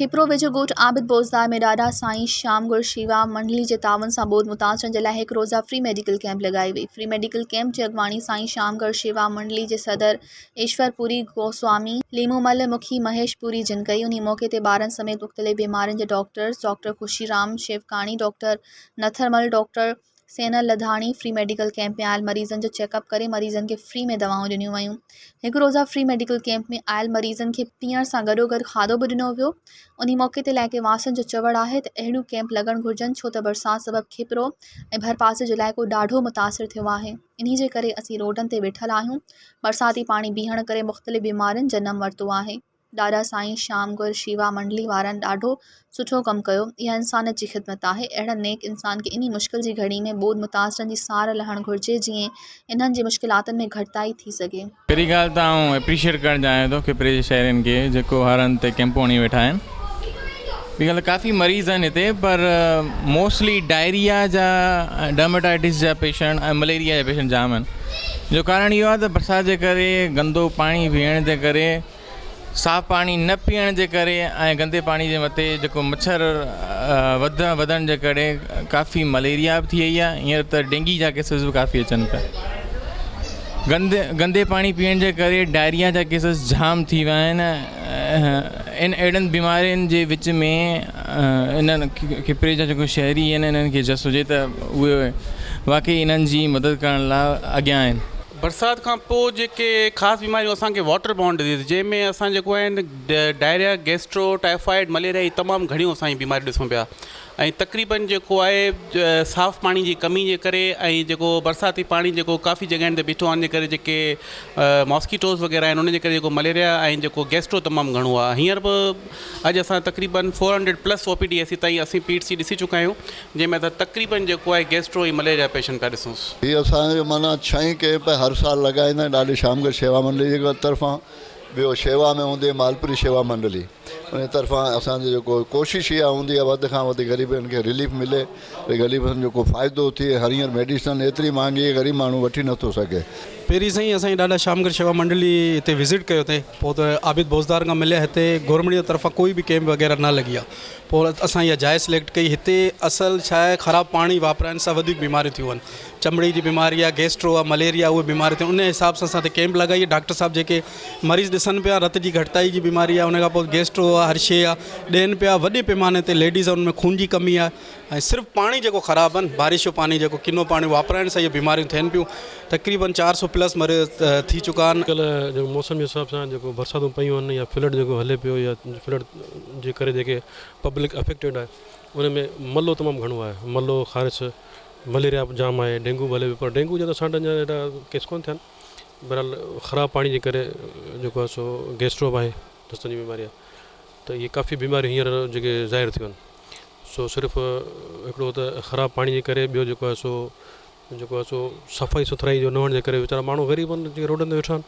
کيپرو ويجهو ڳوٺ عابد بوزدار ۾ ڏاڏا سائين شيام ڳڙهه شيوا منڊلي جي تعاون سان ٻوڏ متاثرن جي لاء هڪ روزه فري ميڊيڪل ڪيمپ لڳائي وئي فري ميڊيڪل ڪيمپ جي اڳواڻي سائين شيام ڳڙهه شيوا منڊلي جي صدر ايشور پوري گوسوامي، ليمومل مکي، مهيش پوري جن ڪئي. انهيء موقعي تي ٻارن سميت مختلف بيمارين جا doctors doctor Khushiram Shivkani, doctor Nathirmal, doctor Sunil Ladhani free medical camp ۾ آيل مريضن جو چيڪ اپ ڪري مريضن کي فري ۾ دوائون ڏنيون ويون. هڪ روزه فري ميڊيڪل ڪيمپ ۾ آيل مريضن کي پيئڻ سان گڏوگڏ کاڌو به ڏنو ويو. انهيء موقعي تي علائقي واسين جو چوڻ آهي ته اهڙيون ڪيمپ لڳڻ گهرجن ڇو ته برسات سبب کيپرو ۽ ڀرپاسي جو علائقو ڏاڍو متاثر ٿيو آهي. انهي جي ڪري اسين روڊن تي ويٺل آهيون. برساتي پاڻي بيهڻ ڪري مختلف بيمارين جنم ورتو آهي. ڏاڏا سائين شيام گر شيوا منڊلي وارن ڏاڍو سٺو ڪم ڪيو. اها انسانيت جي خدمت آهي. اهڙن نيڪ انسان کي انهي مشڪل جي گهڙي ۾ ٻوڏ متاثرن جي سار لهڻ گهرجي جيئن انهن جي مشڪلاتن ۾ گهٽتائي ٿي سگهي. پهرين ڳالهه ته آئون اپريشيئيٽ ڪرڻ چاهيان ٿو کپري جي شهرين کي جيڪو هر هنڌ تي ڪئمپون هڻي ويٺا آهن ٻي ڳالهه ته ڪافي مريض آهن هتي پر موسٽلي ڊائريا جا ڊرماٽائيٽس جا پيشنٽ ۽ مليريا جا پيشنٽ جام آهن جو ڪارڻ اهو آهي ته برسات جي ڪري گندو پاڻي پيئڻ جي ڪري صاف پاڻي نه پيئڻ جي ڪري ۽ گندي پاڻي جي مٿي جيڪو مڇر وڌڻ وڌڻ جي ڪري ڪافي مليريا به ٿي وئي آهي هينئر ته ڊينگي جا ڪيسز به ڪافي اچن پيا گندي گندي پاڻي پيئڻ جي ڪري ڊائريا جا ڪيسز جام ٿي ويا آهن ان اهڙن بيمارين جي وچ ۾ انهن کپري جا جيڪو شهري آهن انهن کي جس هجي ته اهي واقعي انهن جي مدد ڪرڻ لاء اڳيان آهن برسات کان پوء جيڪي خاص بيماريون اسان کي واٽر بورن ڊزيز جنهن ۾ اسان جيڪو آهن ڊائريا گيسٽرو ٽائيفائيڊ مليريا هي تمام گهڻيون اسان جي بيماريون ڏسون پيا ۽ تقريبن جيڪو آهي صاف پاڻي جي ڪمي جي ڪري ۽ جيڪو برساتي پاڻي جيڪو ڪافي جڳهن تي بيٺو آهن جي ڪري جيڪي ماسڪيٽوز وغيره آهن انهن جي ڪري جيڪو مليريا ۽ جيڪو گيسٽرو تمام گهڻو آهي هينئر به اڄ اسان تقريبن four hundred plus O P D E C تائين اسين پي ايٽ سي ڏسي چڪا آهيون جنهن ۾ اسان تقريبن جيڪو آهي گيسٽرو ۽ مليريا پيشنٽ پيا ڏسونس. هي اسان جو معنيٰ ڇهين ڪيمپ هر سال لڳائيندا آهن ڏاڏي شيام گڙ شيوا منڊلي جي طرفان ٻيو شيوا ۾ هوندي مالپري شيوا منڊلي انهي طرفان اسان جي جيڪو ڪوشش اها هوندي آهي وڌ کان وڌ غريبن کي رليف ملي ۽ غريبن جو ڪو فائدو ٿئي هر هينئر ميڊيسن ايتري مهانگي آهي غريب ماڻهو وٺي نٿو سگهي. پهرين سائين اسان جي ڏاڏا شيام گڙ شيوا منڊلي هتي وزٽ ڪيو تي پوء ته عابد بوزدار کان مليا هتي گورنمينٽ جي طرفان ڪوئي به ڪيمپ وغيره نه لڳي آهي پوء اسان اها جاء سليڪٽ ڪئي هتي اصل ڇا آهي خراب پاڻي واپرائڻ سان وڌيڪ بيماريون ٿيون آهن چمڙي جي بيماري آهي گيسٽرو آهي مليريا اهي بيماريون ٿيون ان حساب سان اسان هتي ڪيمپ لڳائي ڊاڪٽر صاحب جيڪي مريض ڏسن پيا رت جي گهٽتائي جي بيماري آهي ان کان پوء گيسٽرو آهي هر شي آهي ڏين پيا وڏي پيماني تي ليڊيز آهن ان ۾ خون جي ڪمي آهي ۽ صرف پاڻي جيڪو خراب آهن بارش جو پاڻي جيڪو ڪنو پاڻي واپرائڻ سان اهي بيماريون ٿين پيون تقريبن چار سو پلس مريض ٿي چڪا آهن اڄڪلهه جيڪو موسم جي حساب سان جيڪو برساتون پيون آهن يا فلڊ جيڪو هلي پيو يا فلڊ جي ڪري جيڪي پبلڪ افيڪٽيڊ آهي ان ۾ ملهو تمام گهڻو آهي ملهو خارش مليريا به جام آهي ڊينگو به هلي پيو پر ڊينگو جا اسان وٽ اڃان ايڏا ڪيس ڪونه ٿيا آهن بهرحال خراب پاڻي جي ڪري جيڪو آهي سو گيسٽرو به آهي دستن جي بيماري آهي ته اهي ڪافي بيماريون هينئر جيڪي ظاهر ٿيون آهن سو صرف هڪڙو ته خراب پاڻي جي ڪري ٻيو جيڪو آهي سو جيڪو آهي سو صفائي سٿرائي جو نه هئڻ جي ڪري ويچارا ماڻهو غريب آهن جيڪي روڊن تي ويٺا آهن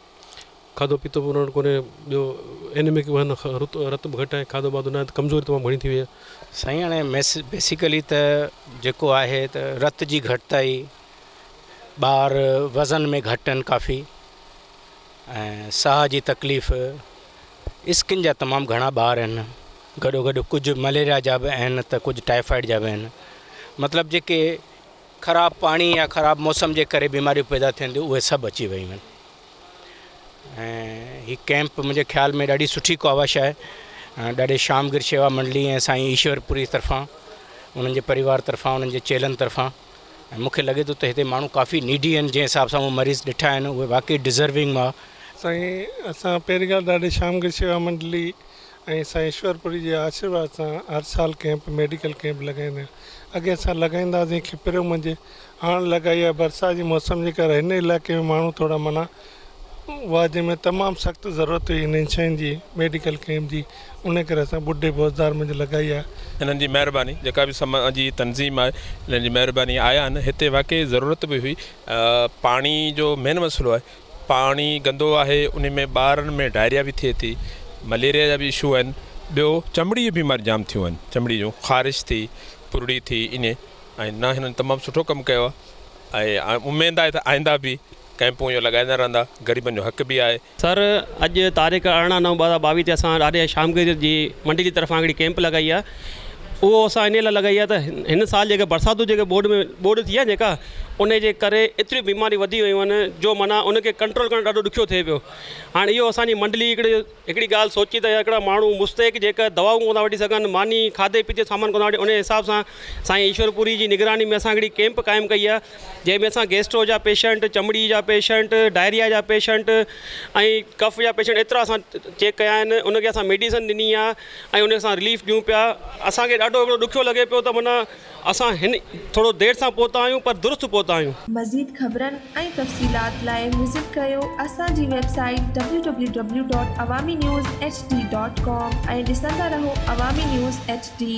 کاڌو پيتو به انهن وٽ ڪونهي ٻيو اينيمڪ به آهن رت رت به گهٽ آهي کاڌو واڌو ناهي ته ڪمزوري تمام گهڻي ٿي وئي آهي. سائين هاڻي بيسيڪلي ته جيڪو آهي ته رت جي گهٽتائي ٻار وزن ۾ گهٽ آهن ڪافي ۽ ساهه جي تڪليف اسڪن جا تمام گهڻا ٻار آهن گڏو گڏ ڪجهه مليريا جا به آهن ته ڪجهه ٽائيفائيڊ جا به آهن مطلب جيڪي خراب پاڻي يا خراب موسم جي ڪري بيماريون پيدا ٿين ٿيون اهي سڀ اچي ويون آهن ۽ هي ڪئمپ منهنجي خيال ۾ ڏاڍي سٺي ڪاوش آهي ڏاڍي شام گر شيوا منڊلي ۽ سائين ايشورپوري طرفان انهن جي پريوار طرفان انهن جي چيلن طرفان ۽ مونکي لڳي ٿو ته هتي ماڻهو ڪافي نيڊي آهن جنهن حساب سان مون مريض ڏٺا آهن اهي واقعي ڊزروينگ هئا سائين اسان پهرين کان ڏاڍي شام گر شيوا منڊلي ۽ سائين ايشور پوري جي آشيرواد سان هر سال ڪئمپ ميڊيڪل ڪئمپ لڳائيندا آهن اڳي اسان لڳائيندا هئاسين کپريو منجهه هاڻ لڳائي آهي برسات جي موسم جي ڪري هن علائقي ۾ ماڻهو ٿورا منا هئا جنهن ۾ تمام سخت ضرورت هئي انهن شين جي ميڊيڪل ڪئمپ جي انهي ڪري اسان ٻڍي بوزدار منجهه لڳائي آهي. انهن جي مهرباني جيڪا به سما جي تنظيم آهي انهن جي مهرباني آيا آهن هتي واقعي ضرورت به هئي پاڻي جو مين مسئلو آهي پاڻي گندو آهي ان ۾ ٻارن ۾ ڊائريا به ٿئي ٿي مليريا جا به اشو آهن ٻيو چمڙي جون بيماريون جام ٿيون آهن چمڙي جون خارش ٿي پرڙي ٿي ايئن ۽ نه هنن تمام سٺو ڪم ڪيو آهي ۽ اميد آهي ته آئنده به ڪئمپون اهو لڳائيندا رهندا غريبن جو حق به آهي. سر اڄ تاريخ ارڙهن نو ٻه هزار ٻاويهه تي اسان ڏاڏي شام گير جي منڊي جي طرفان هڪڙي ڪئمپ لڳائي آهي اهو اسان انهي لاء لڳائي آهي ته هن سال جيڪا برساتون جيڪا ٻوڏ ۾ ٻوڏ ٿي آهي جيڪا انهي جي ڪري ايتريون بيماريون وڌي ويون آهن جو معنيٰ ان کي ڪنٽرول ڪرڻ ڏاڍو ڏکيو ٿئي پيو هاڻي اهو اسان جي منڊلي هڪڙي هڪڙي ڳالهه سوچي ته هڪڙا ماڻهو مستحق جيڪر دوائون ڪونه ٿا وٺي سگهن ماني کاڌي پيتي جو سامان ڪونه ٿا وٺي انهي حساب سان سائين ايشور پوري جي نگراني ۾ اسان هڪڙي ڪيمپ قائم ڪئي آهي جنهن ۾ اسان گيسٽرو جا پيشنٽ چمڙي جا پيشنٽ ڊائريا جا پيشنٽ ۽ ڪف جا پيشنٽ ايترا اسان چيڪ ڪيا آهن ان کي اسان ميڊيسن ڏني آهي ۽ انهي سان رليف ڏيون پيا اسان کي ڏاڍو هڪڙو ڏکيو لڳي پيو ته معنيٰ اسان هن ٿورو دير سان پهتا آهيون پر درست پهتا آهيون. مزيد خبرن ۽ تفصيلات لاء وزٽ ڪريو اسان جي website www.awaminews. hd. com ۽ ڏسندا رهو عوامي نيوز ايڇ ڊي.